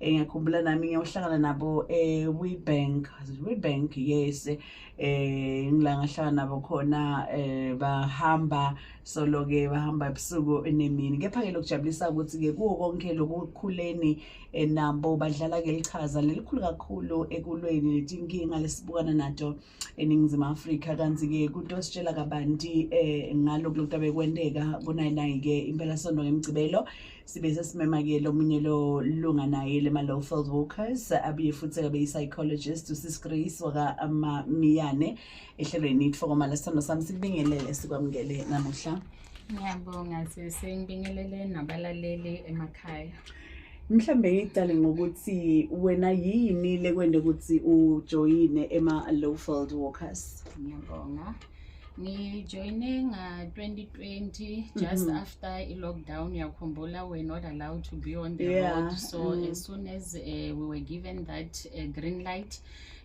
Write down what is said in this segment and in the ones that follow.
um ngiyakhumbula nami ngiyohlangana nabo ewebank eh, webank yes um eh, ngila ngahlangana nabo khona um bahamba solo-ke bahamba ebusuku nemini kepha-ke lokujabulisa ukuthi-ke kuwo konke lokukhuleni um nabo badlala-ke lichaza lelikhulu kakhulu ekulweni netinkinga lesibukana nato um eningizimu afrika kanti-ke kunto ositshela kabanti um ngalo kulokhu abekwenteka kunayinayi-ke impela sonto ngemgcibelo sibe sesimema-ke lomunye lo lunga naye lema-lowfield walkers abuye futhi abe yi-psychologist usis grace wakamamiyane ehlelweni itfokomala sithando sami sikubingelele sikwamukele namuhla ngiyabonga sesengibingelele nabalaleli emakhaya mhlambe ngicale ngokuthi wena yini lekwende ukuthi ujoyine ema-lowfield walkers ngiyabonga ngijoyine nga-2020 just mm -hmm. after i-lockdown uyakhumbula we're not allowed to be on the yeah. road so mm. as soon as uh, we were given that uh, green light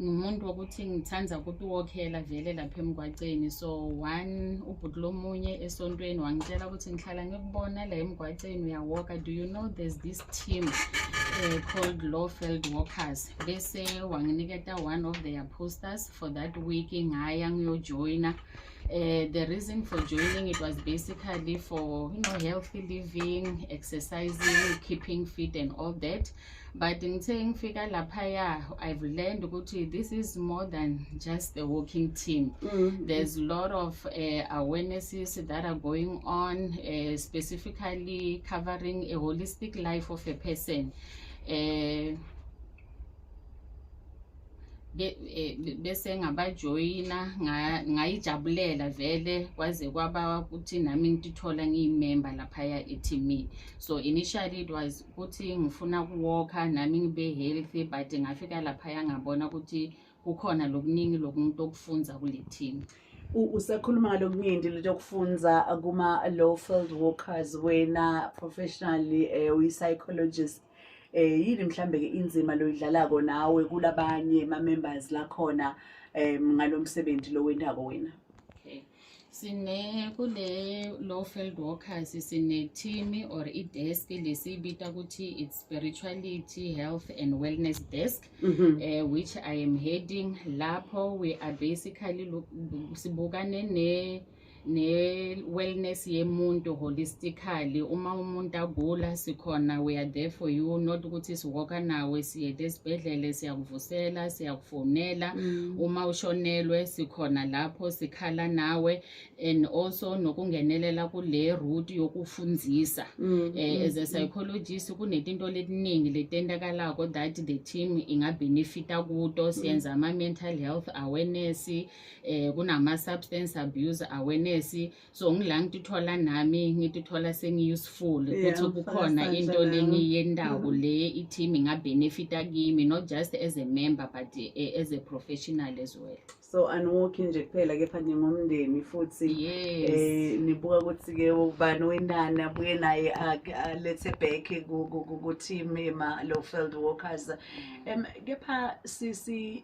ngimuntu wokuthi ngithanda ukutuwokhela vele lapha emgwaceni so one ubhuti lomunye esontweni wangitshela ukuthi ngihlala ngikubona la emgwaceni uyawoka do you know there's this team uh, called lawfeld walkers bese wanginiketa one of their posters for that week ngaya ngiyojoyina Uh, the reason for joining it was basically for you know healthy living exercising keeping fit and all that but ngithe ngifika laphaya i've learned ukuthi this is more than just the walking team mm -hmm. there's a lot of uh, awarenesses that are going on uh, specifically covering a holistic life of a person uh, Eh, bese ngabajoyina ngayijabulela vele kwaze kwaba ukuthi nami ngitithola ngiyimemba laphaya ethimini so initially it was ukuthi ngifuna ukuwokha nami ngibe healthy but ngafika laphaya ngabona ukuthi kukhona lokuningi lokumuntu okufunza kule team usekhuluma ngalokuningi lento yokufunza kuma-low field workers wena professionally um eh, uyi-psychologist eh yini mhlambe ke inzima loyidlalako nawe kulabanye ma members lakhona em ngalomsebenzi lowendako wena sine kule low field workers sine-team or i-desk lesiyibita ukuthi it's spirituality health and wellness desk mm -hmm. uh, which i am heading lapho we are basically sibukane ne ne-wellness yemuntu holistically uma umuntu agula sikhona we are there for you not ukuthi siwoka nawe siye esibhedlele siyakuvusela siyaku fonela mm. uma ushonelwe sikhona lapho sikhala nawe and also nokungenelela kule route yokufundisa mm. eh, mm, as a mm. psychologist kunetinto letiningi letentakalako that the team ingabenefita kuto mm. siyenza ama-mental health awareness eh, kunama-substance abuse awareness so ngila ngituthola nami ngituthola sengi-useful ukuthi kukhona into lengiyendawo mm-hmm. le i-team ingabhenefita kimi not just as a member but eh, as a professional as well so aniwokhi nje kuphela kepha ningomndeni futhi eh nibuka ukuthi ke ubani wenani abuye naye alethe back ku team ema lo field workers mm. em kepha sisi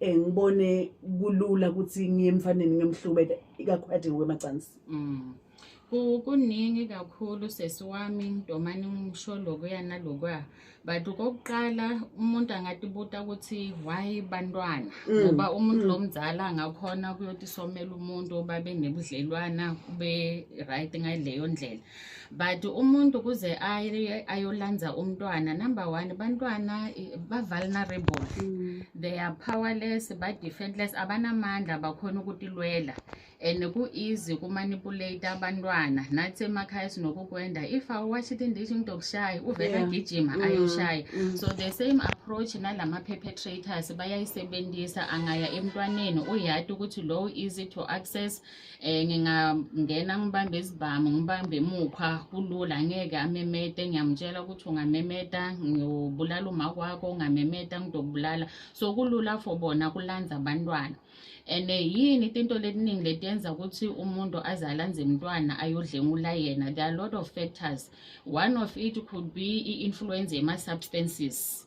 eh ngibone kulula ukuthi ngiye emfaneni ngiyomhlubeka ikakhulukathi ngokwemacansi mm. kuningi kakhulu sesi wami ngidomane ngisho lokuya nalokuya but kokuqala umuntu angatibuta ukuthi why bantwana mm. ngoba umuntu mm. lo mzala angakhona kuyothi somela umuntu babe nebudlelwana kube right ngaleyo ndlela but umuntu kuze ayolanza umntwana number one bantwana ba-vulnerable mm. they are powerless ba-defentless abanamandla bakhona ukutilwela and ku-easy kumanipulate abantwana nathi emakhaya sinokukwenda if awuwashi tindishi umuntu okushaya uvele agijima mm. ayoshaya mm. so the same approach nalama-perpetrators bayayisebenzisa angaya emntwaneni uyati ukuthi low easy to access eh ngingangena ngibambe izibhamu ngibambe emukhwa kulula ngeke amemete ngiyamtshela ukuthi ungamemeta ngiyobulala uma kwakho ungamemeta ngidokubulala so kulula for bona kulanza abantwana and eh, yini tinto letiningi letiyenza ukuthi umuntu azalanze mntwana ayodlengula yena there are a lot of factors one of it could be i-influence yema-substances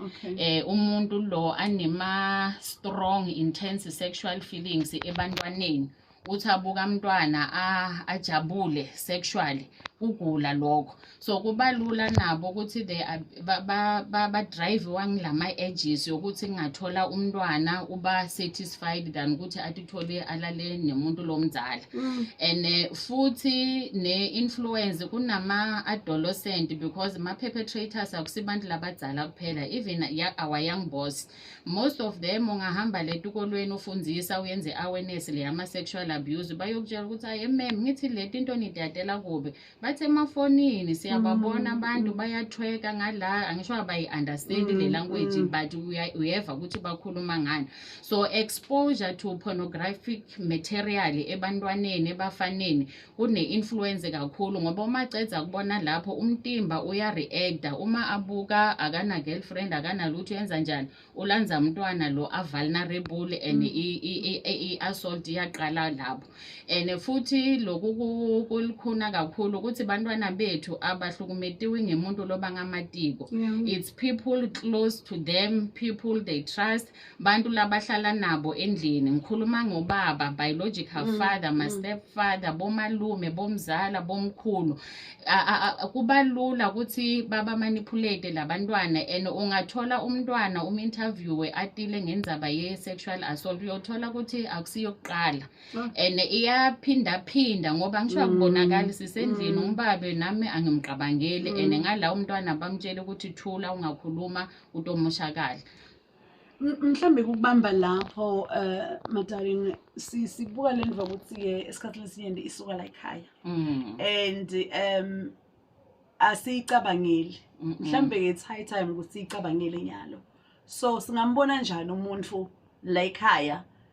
okay. eh umuntu lo anema strong intense sexual feelings ebantwaneni uthi abuka mntwana ajabule sexually kugula lokho so kubalula nabo ukuthi they ba drive wangilama edges yokuthi ngingathola umntwana uba satisfied satisfied than ukuthi atithole alale nemuntu lomzala mm. and eh, futhi ne-influence kunama-adolescent because ma-perpetrators akusibantu labadzala kuphela even our young boss most of them ungahamba letikolweni ufundisa uyenze i-awareness leyama-sexual abuse bayokutshela ukuthi ayi mem ngithi leti into nidadela kubi basemafonini siyababona mm. abantu mm. bayathweka ngala angisho abayi-understand mm, le language mm. but uyeva ukuthi bakhuluma ngani so exposure to pornographic material ebantwaneni ebafaneni kune-influence kakhulu ngoba uma cedza kubona lapho umtimba uya-reacta uma abuka akana-girlfriend akanalutho yenza njani ulanza mntwana lo avulnerable and i-assault iyaqala lapho and futhi lokhu kulikhuna kakhulu ukuthi bantwana bethu abahlukumetiwe ngemuntu loba ngamatiko it's people close to them people they trust bantu labahlala nabo endlini ngikhuluma ngobaba biological mm, father my mm. step father bomalume bomzala bomkhulu kuba lula ukuthi baba manipulate labantwana and ungathola umntwana um interviewe atile ngenzaba ye sexual assault uyothola ukuthi akusiyo kuqala ah. and iyaphinda phinda ngoba ngisho mm. akubonakali sisendlini mm. umbabe nami angimqabangeli and mm. ngala umntwana bamtshele ukuthi thula ungakhuluma utomoshakala mhlawumbe kukubamba lapho um eh, madarin sibuka le nva ukuthi-ke esikhathini esinyeni isuka la ekhaya mm. and um asiyicabangeli mhlawumbe it's high time ukuthi siyicabangele nyalo so singambona njani umuntu la ekhaya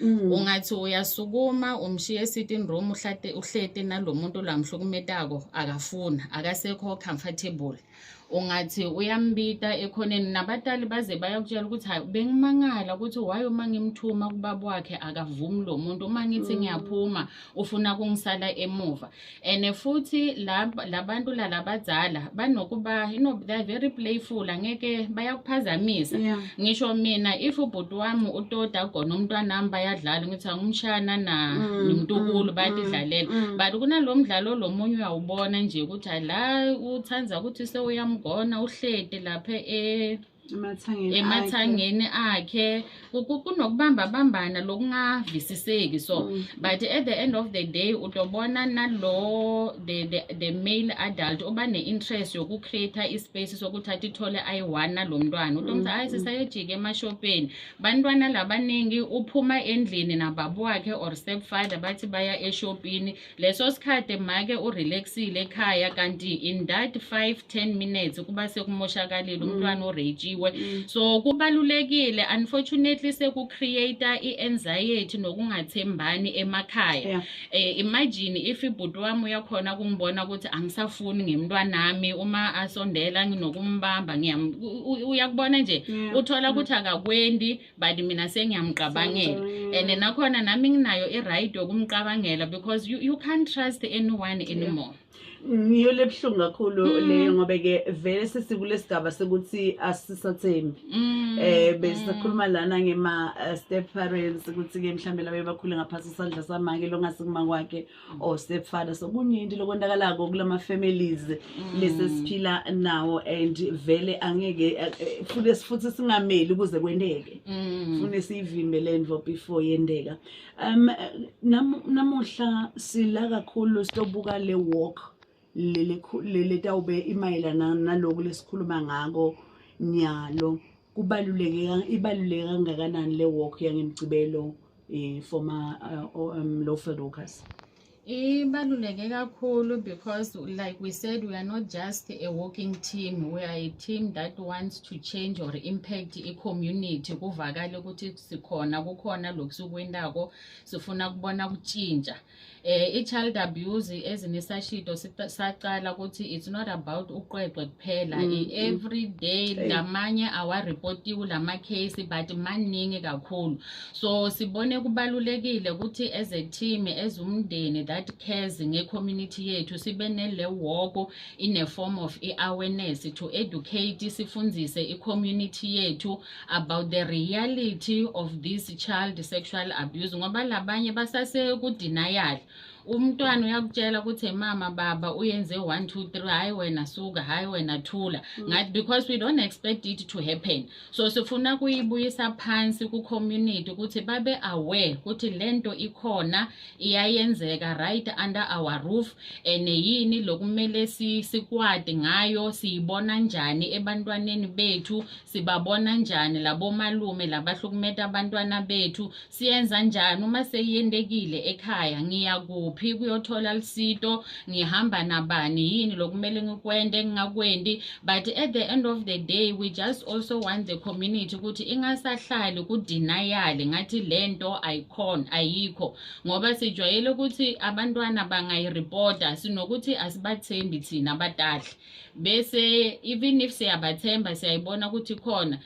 Mm. ungathi uyasukuma umshiye esitting room uhlate uhlete nalomuntu lamhlukumetako akafuna akasekho comfortable ungathi uyambita ekhoneni nabatali baze bayakutshela ukuthi hayi bengimangala ukuthi why uma ngimthuma kubaba wakhe akavumi lo muntu uma ngithi mm. ngiyaphuma ufuna kungisala emuva and futhi labantu lalabadzala banokuba you know they're very playful angeke bayakuphazamisa yeah. ngisho mina if ubhuti wami utoda khona umntwana wami bayadlala ngithi angumshana na mm, nomntukulu mm, bayadidlalela mm, mm. but kunalo mdlalo lomunye uyawubona nje ukuthi la uthanda ukuthi sewuyamgona uhlede lapha e emathangeni akhe kunokubamba bambana lokungavisiseki so mm. but at the end of the day utobona nalo the, the, the male adult oba ne-interest yokucreate ispace sokuthatha ithole ayi-one nalo mntwana utomtha mm, ayi mm. sisayojika emashopeni bantwana labaningi uphuma endlini nababa wakhe or stepfather bathi baya eshopini leso sikhathi make urelaxile ekhaya kanti in that 5 10 minutes kuba sekumoshakalile mm. umntwana urejiwe mm. so kubalulekile unfortunately sekucreate i-anxiety nokungathembani emakhaya yeah. eh, imagine if ibhuti wami uyakhona kungibona ukuthi angisafuni ngemntwanami uma asondela nginokumbamba uyakubona nje yeah. uthola mm. ukuthi akakwendi but mina sengiyamqabangela and nakhona nami nginayo i-right yokumqabangela because you, you can't trust anyone anymore yeah. ngiyo lebuhlungu kakhulu mm. leyo ngoba ke vele sesikule sigaba sekuthi asisathembi mm. eh besikhuluma mm. lana ngema eh, step parents ukuthi ke mhlambe labe bakhule ngaphansi isandla samake longase kuma kwakhe or oh, stepfather so kuningi lokwendakalako kulama families mm. lesi siphila nawo and vele angeke eh, eh, futhi sifuthi singameli ukuze kwendeke mm. fune siyivimbe lento before yendeka um namuhla sila kakhulu sitobuka le walk lele lele tawube imayelana naloku lesikhuluma ngako nyalo kubaluleke ibaluleke kangakanani le walk yangemgcibelo eh for ma uh, um, low field workers ibaluleke kakhulu because like we said we are not just a walking team we are a team that wants to change or impact i-community kuvakale ukuthi sikhona kukhona lokhu sikwentako sifuna kubona kutshintsha eh i-child abuse as nesashido saqala ukuthi it's not about uqweqwe kuphela mm, mm. every day lamanye awareportiwe lama case but maningi kakhulu so sibone kubalulekile ukuthi as a team as umndeni that cares nge-community yethu sibe nele woko in a form of i-awareness to educate sifundise i-community yethu about the reality of this child sexual abuse ngoba labanye basase ku denial umntwana uyakutshela ukuthi mama baba uyenze 1 2 3 hayi wena suka hayi wena thula mm. ngathi because we don't expect it to happen so sifuna kuyibuyisa phansi ku community ukuthi babe aware ukuthi lento ikhona iyayenzeka right under our roof and yini lokumele sikwadi ngayo siyibona njani ebantwaneni bethu sibabona njani labomalume labahlukumeta abantwana bethu siyenza njani uma seyiyendekile ekhaya ngiyakuphi kuyothola lisito ngihamba nabani yini lokumele ngikwende engingakwendi but at the end of the day we just also want the community ukuthi ingasahlali kudinayali ngathi le nto ayikhona ayikho ngoba sijwayele ukuthi abantwana bangayiripota sinokuthi asibathembi thina abadadla bese even if siyabathemba siyayibona ukuthi khona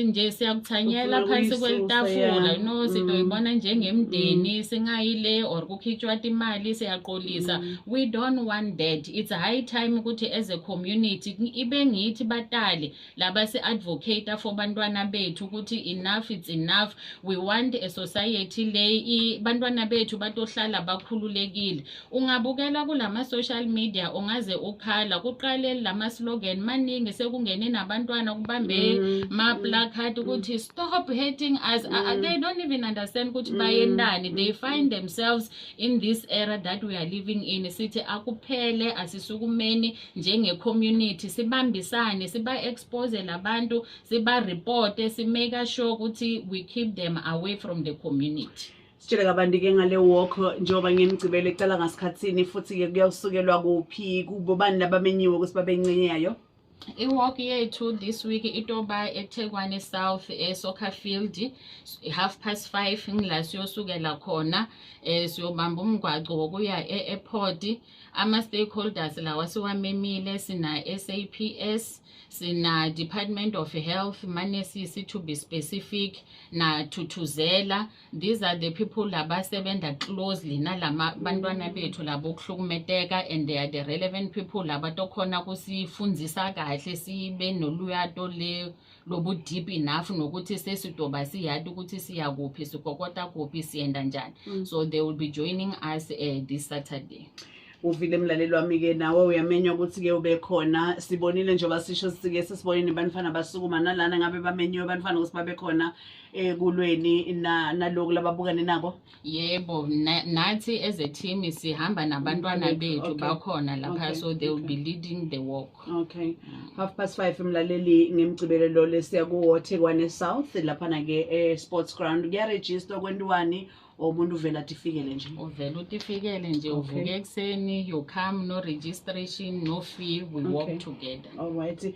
nje siyakuthanyela phansi kwelitafula no mm. sidoyibona njengemndeni mm. singayile or kukhitshwa imali siyaqolisa mm. we don't want that it's high time ukuthi as a community ibe ngithi batale laba si-advocate for bantwana bethu ukuthi enough it's enough we want a society le bantwana bethu batohlala bakhululekile ungabukela kulama-social media ungaze ukhala kuqale lama-slogan maningi sekungene nabantwana kubambe mm. ma-placard mm. ukuthi stop hating us mm. uh, they don't even understand ukuthi mm. bayendani they find themselves in this era that we are living in sithi akuphele asisukumeni njenge-community sibambisane siba-expose labantu siba-reporte si-make sure ukuthi we keep them away from the community sitshele kabanti-ke ngale walk njengoba ngimgcibele icala ngasikhathini futhi-ke kuyawusukelwa kuphi kubo bani labamenyiwe ukuthi babencenyayo iwalk yethu this week itoba ethekwani south esoccer field half past five ngila siyosukela khona um siyobamba umgwaco wokuya e-airport ama-stakeholders lawa siwamemile sina-saps sina-department of health manesisi to be specific nathuthuzela these are the people labasebenza closely nalama bantwana bethu labo okuhlukumeteka and they are the relevant people labatokhona kusifundisa kahle sibe noluyato le lobu deep enough nokuthi sesidoba siyati ukuthi siya kuphi sikokota kuphi siyenda njani mm. so they will be joining us uh, this saturday uvile mlaleli wami-ke nawe uyamenywa ukuthi-ke ube khona sibonile njengoba sisho sike sesibone nebantfana basukuma nalana ngabe bamenyiwe bantfana ukuthi babe khona ekulweni eh, naloku lababukane nabo yebo nathi as a team sihamba nabantwana bethu bakhona lapha so they will be leading the walk okay half past 5 mlaleli ngemgcibelelo lesiya ku Waterwane South laphana ke e sports ground kuya register kwendiwani umuntu uvela tifikele nje uvela utifikele nje uvuke ekuseni you come no registration no fee we walk together all right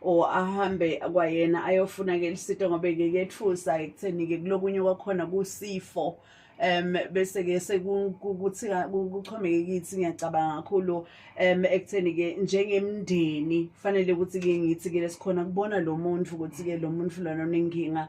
or ahambe kwayena ayofuna ke lisito ngobe ke kethusa ekutheni ke kulokunye kwakhona kusifo um bese ke sekuthi kuchomeke kithi ngiyacabanga kakhulu um ekutheni ke njengemndeni fanele ukuthi ke ngithi ke lesikhona kubona lo muntu ukuthi ke lo muntu lona unenkinga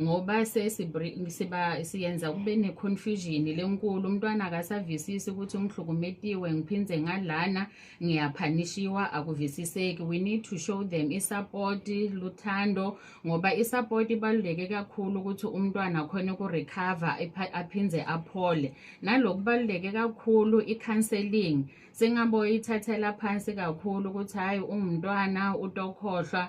ngoba siba siyenza kube ne-confusion lenkulu umntwana akasavisisi ukuthi ungihlukumetiwe ngiphinde ngalana ngiyaphanishiwa akuvisiseki we need to show them i-support luthando ngoba i-support ibaluleke kakhulu ukuthi umntwana khona ukurecover aphinde aphole nalokubaluleke kakhulu i-counseling singaboyithathela phansi kakhulu ukuthi hhayi ungumntwana utokhohlwa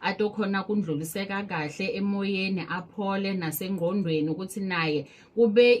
ade okhona kundluliseka kahle emoyeni aphole nasengqondweni ukuthi naye kube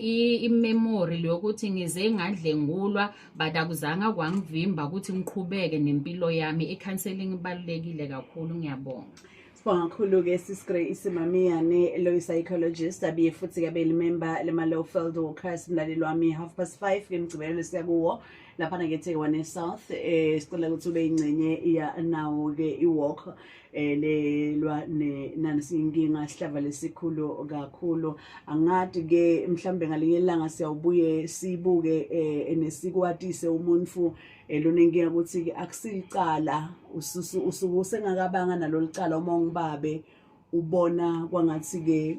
imemory leyokuthi ngize ngadlengulwa but akuzange kwangivimba ukuthi ngiqhubeke nempilo yami i-counseling ibalulekile kakhulu ngiyabonga Sibonga kakhulu-ke sisigrey isimamiyane loyi psychologist abiye futhi-ke abeyilimemba lema-low field workers mlaleli wami half past five ke mgcibelelo siyakuwo laphana ke Thewane South eh sicela ukuthi ube ingcenye iya nawo ke iwalk eh lelwa ne nani sinkinga sihlava lesikhulu kakhulu angathi ke mhlambe ngalinye ilanga siyawubuye sibuke eh nesikwatise umuntu eh, lonenkinga ukuthi ke akusilicala usuku usengakabanga nalolicala uma ungibabe ubona kwangathi ke